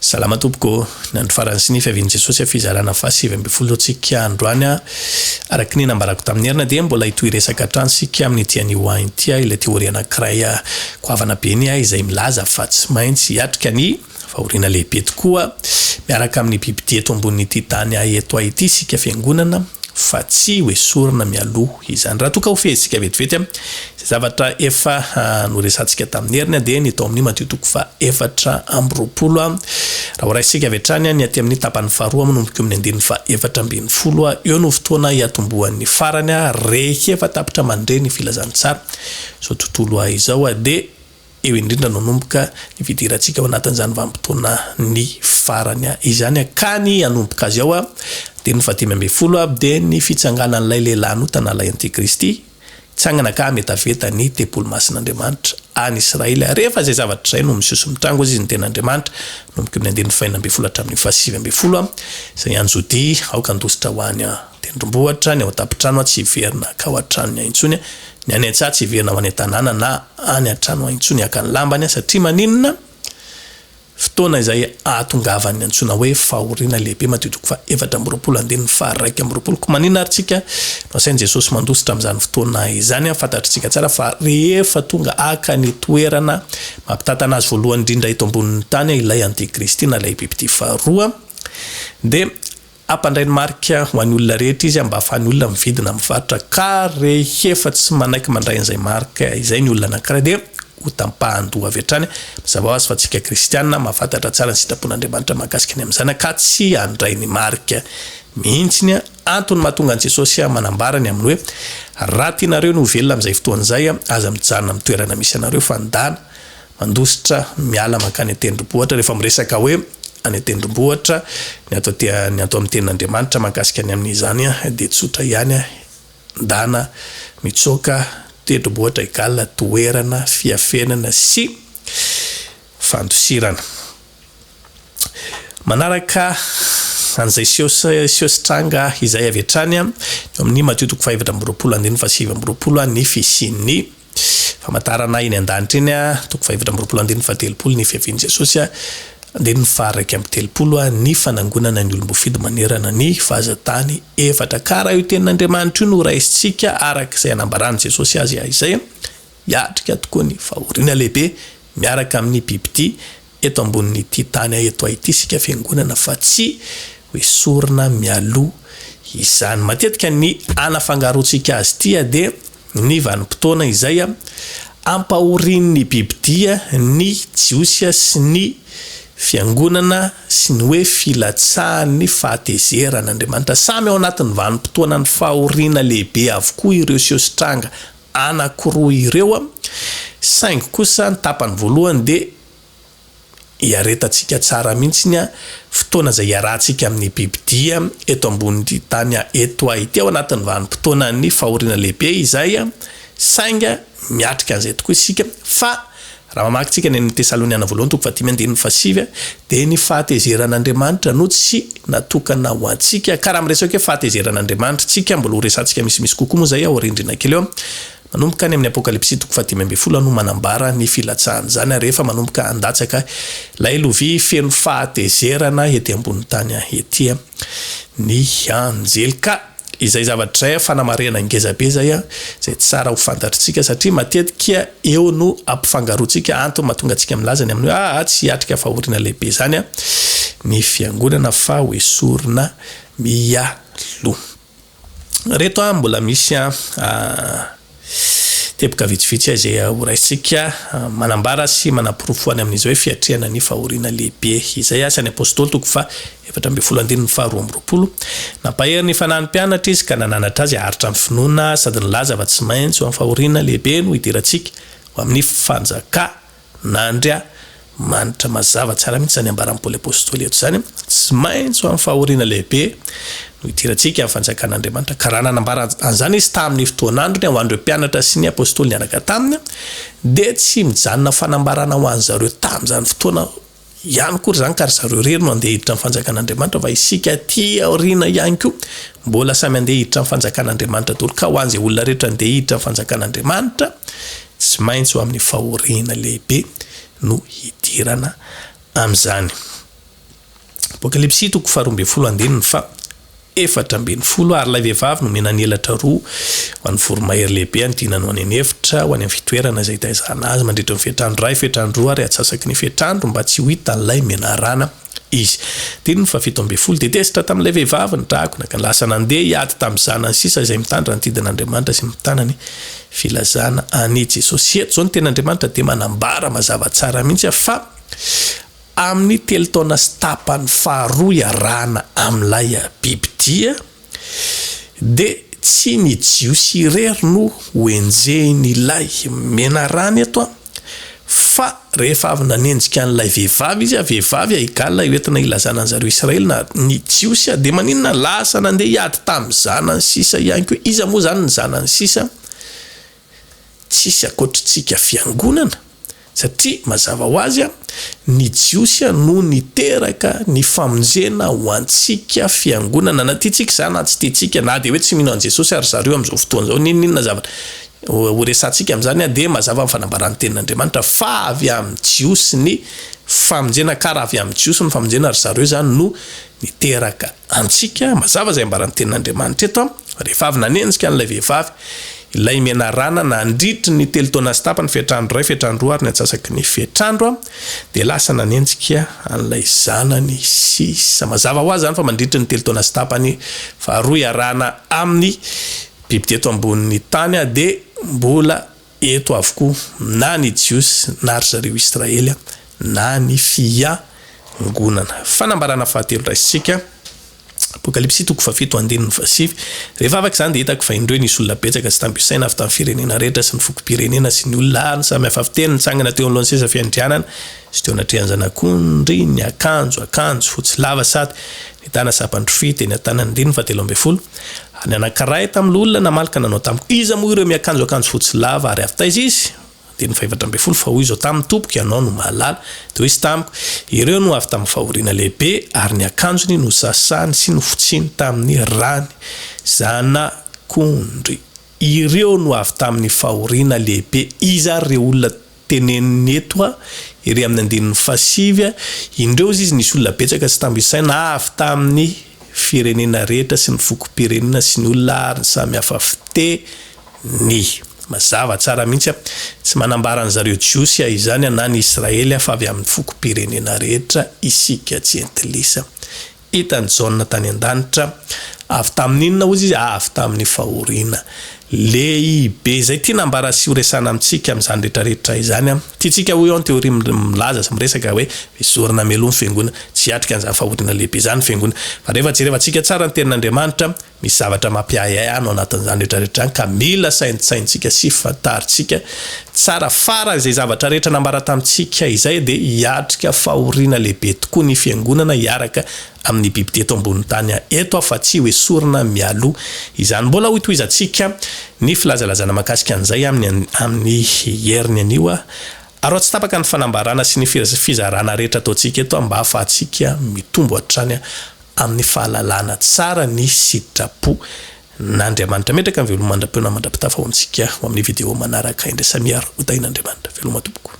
Salama tompoko ô! Ny andro farany sy ny fiavian'i Jesosy fizarana faha sivy ambin'ny folo antsika androany a! Araka ny nambarako tamin'ny erina dia mbola hitohy hiresaka hatrany isika amin'ity anio ho any ity a! Ilay teoria anankiray goavana be ny ahy izay milaza fa tsy maintsy hiatrika ny fahoriana lehibe tokoa miaraka amin'ny bibidia eto ambonin'ity tany ahy eto ahy ity isika fiangonana fa tsy hoesorina mialoha izany. Raha toa ka ho fehintsika vetivety Izay zavatra efa noresahantsika tamin'ny heriny dia ny tao amin'ny Matio toko fahaefatra amby roapolo. Raha horaisintsika avy hatrany, ny aty amin'ny tapany faharoa manomboka eo amin'ny andininy fahefatra ambin'ny folo eo no fotoana hiatombohan'ny farany rehefa tapitra mandre ny filazantsara. Izao tontolo izao dia eo indrindra no hanomboka ny fidirantsika ao anatin'izany vanim-potoana ny farany izany ka ny hanomboka azy ao. Andininy fahadimy ambin'ny folo dia ny fitsanganan'ilay lehilahy nota na ilay antikristy. Hitsangana ka hametaveta ny tempoly masin'Andriamanitra any Israely, ary rehefa izay zavatra izay no miseho sy mitrango izy, ny tena Andriamanitra, manomboka amin'ny andininy fahenina ambin'ny folo hatramin'ny fahasivy ambin'ny folo, izay any Jodia, aoka handositra ho any an-tendrombohitra, ny ao an-tampon-trano tsy hiverina hankao an-tranony any intsony, ny any an-tsaha tsy hiverina ho any an-tanàna na any an-trano any intsony haka ny lambany, satria maninona? Fotoana izay ahatongavan'ny antsoina hoe fahoriana lehibe, Matio toko faha efatra amby roapolo andininy faha raika amby roapolo. Koa maninona ary tsika no asain'i Jesosy mandositra amin'izany fotoana izany? Fantatritsika tsara fa rehefa tonga haka ny toerana mampitantana azy voalohany indrindra eto ambonin'ny tany ilay antikristy na ilay bibidia faharoa, dia Hampandray ny marika ho an'ny olona rehetra izy mba hahafahan'ny olona mividy na mivarotra ka rehefa tsy manaiky mandray an'izay marika izay ny olona anankiray dia ho tampahan-doha avy hatrany. Mazava ho azy fa isika kristiana mahafantatra tsara ny sitrapon'Andriamanitra mahakasika ny amin'ny zanaka tsy handray ny marika mihitsy ny antony mahatonga an'i Jesosy manambara ny amin'ny hoe raha tianareo ny ho velona amin'izay fotoana izay aza mijanona amin'ny toerana misy anareo fa ndana Mandositra miala mankany an-tendrombohitra rehefa miresaka hoe any an-tendrombohitra, ny ato aty ny ato amin'ny tenin'Andriamanitra mahakasika ny amin'izany dia tsotra ihany, ndana, mitsoaka, tendrombohitra égale toerana fiafenana sy fandosirana. Manaraka an'izay seho sy seho sy tranga izay avy hatrany eo amin'ny Matio toko fahefatra amby roapolo andininy fahasivy amby roapolo ny fisian'ny. Famantarana ahy eny an-danitra eny a Toko fahefatra amby roapolo andininy fahatelopolo Ny fiavian'i Jesosy a Andininy faharaika amby telopolo a Ny fanangonana ny olom-boafidy manerana ny fahazan-tany efatra Ka raha io tenin'Andriamanitra io no raisintsika araka izay anambaran'i Jesosy azy a Izay hiatrika tokoa ny fahoriana lehibe miaraka amin'ny bibidia eto ambonin'ity tany a Eto Haiti isika fiangonana fa tsy hoesorina mialoha izany Matetika ny hanafangarontsika azy ity a dia ny vanim-potoana izay ampahorian'ny bibidia ny Jiosy sy ny Fiangonana sy ny hoe filatsahan'ny fahatezeran'Andriamanitra. Samy ao anatin'ny vanim-potoanan'ny fahoriana lehibe avokoa ireo siositranga anankiroa ireo, saingy kosa ny tapany voalohany dia. Iaretantsika tsara mihitsy ny fotoana izay iarahantsika amin'ny bibidia eto ambonin'ity tany eto ity ao anatin'ny vanim-potoanan'ny fahoriana lehibe izay, saingy miatrika an'izay tokoa isika fa raha mamaky tsika ny amin'ny Tesaloniana Voalohany toko fahadimy andininy fahasivy dia ny fahatezeran'Andriamanitra no tsy natokana ho antsika ka raha miresaka hoe fahatezeran'Andriamanitra tsika mbola ho resahantsika misimisy kokoa moa izay aoriandriana kely eo. Manomboka any amin'ny Apokalypsy toko fahadimy ambin'ny folo aho no manambara ny filatsahan'izany, ary efa manomboka handatsaka ilay lovia feno fahatezerana ety ambonin'ny tany ety ny anjely. Ka izay zavatra izay, fanamarihana ngeza be izay, izay tsara ho fantatritsika, satria matetika eo no ampifangaroantsika antony mahatonga antsika milaza ny amin'ny hoe, Aa, tsy hiatrika fahoriana lehibe izany ny Fiangonana, fa hoesorina mialoha. reto an mbola misy an teboka vitsivitsy izay ho raisintsika manambara sy manaporofo any amin'izy hoe fiatrehana ny fahoriana lehibe izay asa ny apostoly toko fa efatra ambin'ny folo andininy faha roa amby roapolo nampahery ny fanahy ny mpianatra izy ka nananatra azy aharitra ny finoana sady nilaza fa tsy maintsy ho amin'ny fahoriana lehibe no hidirantsika ho amin'ny fanjaka Na Andria manitra mazava tsara mihitsy izany ambaran'i Paoly Apostoly eto izany, tsy maintsy ho amin'ny fahoriana lehibe no hidirantsika amin'ny fanjakan'Andriamanitra, ka raha nanambara an'izany izy tamin'ny fotoan'androny ho an'ireo mpianatra sy ny Apostoly niaraka taminy, dia tsy mijanona fanambarana ho an'izareo tamin'izany fotoana ihany koa ry zany ka ry zareo irery no andeha hiditra ny fanjakan'Andriamanitra fa isika aty aoriana ihany koa mbola samy andeha hiditra ny fanjakan'Andriamanitra daholo ka ho an'izay olona rehetra andeha hiditra ny fanjakan'Andriamanitra tsy maintsy ho amin'ny fahoriana lehibe no hidirana amin'izany. Apokalypsy toko faharoa ambin'ny folo andininy fa efatra ambin'ny folo ary ilay vehivavy nomena ny elatra roa ho an'ny voromahery lehibe hanodinany ho any an'efitra, ho any amin'ny fitoerana izay hitaizana azy mandritry ny fetrandro iray, fetrandro roa ary atsasaky ny fetrandro mba tsy ho hitan'ilay menarana izy. Andininy fahafito ambin'ny folo dia tezitra tamin'ilay vehivavy ny dragona ka lasa nandeha hiady tamin'ny zanany sisa izay mitandrina ny didin'Andriamanitra sy mitana ny filazana an'i Jesosy. Eto izao ny tenin'Andriamanitra dia manambara mazava tsara mihitsy fa Amin'ny telo taona sy tapany faharoa iarahana amin'ilay bibidia, dia tsy ny Jiosy irery no hoenjehin'ilay menarana eto, fa rehefa avy nanenjika an'ilay vehivavy izy, vehivavy haigalona io entina hilazana an'i zareo Israely na ny Jiosy, dia maninona? Lasa nandeha hiady tamin'ny zanany sisa ihany koa. Iza moa izany ny zanany sisa? tsisy akoatritsika fiangonana satria mazava ho azy ny jiosy no niteraka ny famonjena ho antsika fiangonana na tiantsika izany na tsy tiantsika na dia hoe tsy mino an'i Jesosy ary zareo amin'izao fotoana izao n'inon'inona zavatra ho resahantsika amin'izany dia mazava ny fanambaran'ny tenin'Andriamanitra fa avy amin'ny jiosy ny famonjena ka raha avy amin'ny jiosy ny famonjena ry zareo izany no niteraka Antsika, mazava izay ambaran'ny tenin'Andriamanitra eto, rehefa avy nanenjika an'ilay vehivavy, ilay menarana nandritry ny telo taona sy tapany, fetr'andro iray, fetr'andro roa ary ny antsasaky ny fetr'andro, dia lasa nanenjika an'ilay zanany sisa. Mazava ho azy izany fa mandritry ny telo taona sy tapany faharoa iarahana amin'ny biby teto ambonin'ny tany dia mbola. Eto avokoa na ny Jiosy na ry zareo Israely na ny Fiangonana. Fanambarana fahatelo raisintsika, Apokalypsy toko fahafito andininy fahasivy, Rehefa afaka izany dia hitako fa indreo nisy olona betsaka sy tamby isaina avy tamin'ny firenena rehetra sy ny fokom-pirenena sy ny olona ary ny samy hafa fiteny nitsangana teo anoloan'ny seza fiandrianana sy teo anatrehan'ny Zanak'ondry niakanjo akanjo fotsy lava sady nitana sampandrofia teny an-tanany andininy fahatelo ambin'ny folo Nianakarahy tamin'ny loholona namaly ka nanao tamiko, Iza moa ireo miakanjo akanjo fotsy lava? Ary avy taiza izy? Andininy fahefatra ambin'ny folo, Fa hoy izao taminy, Tompoko, Ianao no mahalala. Dia hoy izy tamiko, Ireo no avy tamin'ny fahoriana lehibe, ary ny akanjony nosasany sy nofotsiny tamin'ny rany. Zanak'ondry, ireo no avy tamin'ny fahoriana lehibe. Iza ary ireo olona? teneniny eto a, ery amin'ny andininy fahasivy a, Indreo izy nisy olona betsaka tsy tambo isaina avy tamin'ny firenena rehetra sy ny fokom-pirenena sy ny olona ary ny samy hafa fiteny. Mazava tsara mihitsy a, tsy manambara ny zareo Jiosy a izany a na ny Israely a fa avy amin'ny fokom-pirenena rehetra isika jentilisa. Hitan'i Jaona tany an-danitra. Avy tamin'inona hozy izy? Avy tamin'ny fahoriana. Lehibe izay ity nambara sy horesahana amintsika amin'izany rehetrarehetra izany. Tiantsika hoy aho ny teoria milaza sy miresaka hoe mizorina mialoha ny fiangonana. Tsy hiatrika an'izany fahoriana lehibe izany ny fiangonana. Fa rehefa jerevantsika tsara ny Tenin'Andriamanitra, Misy zavatra mampiahiahy any ao anatin'izany rehetra rehetra izany ka mila saintsainintsika sy fantarintsika tsara fara izay zavatra rehetra nambara tamintsika izay dia hiatrika fahoriana lehibe tokoa ny fiangonana hiaraka amin'ny biby teto ambonin'ny tany eto afa tsy hoesorina mialoha izany. Mbola hoitohizantsika ny filazalazana makasika an'izay amin'ny amin'ny heriny anio aroa tsy tapaka ny fanambarana sy ny fizarana rehetra ataontsika eto mba hahafahantsika mitombo hatrany amin'ny fahalalana tsara ny sitrapo n'Andriamanitra. Metraka ny veloma mandra-peo na mandra-pitafa ho antsika ho amin'ny video manaraka indray. Samia Rodaina Andriamanitra. Veloma tompoko.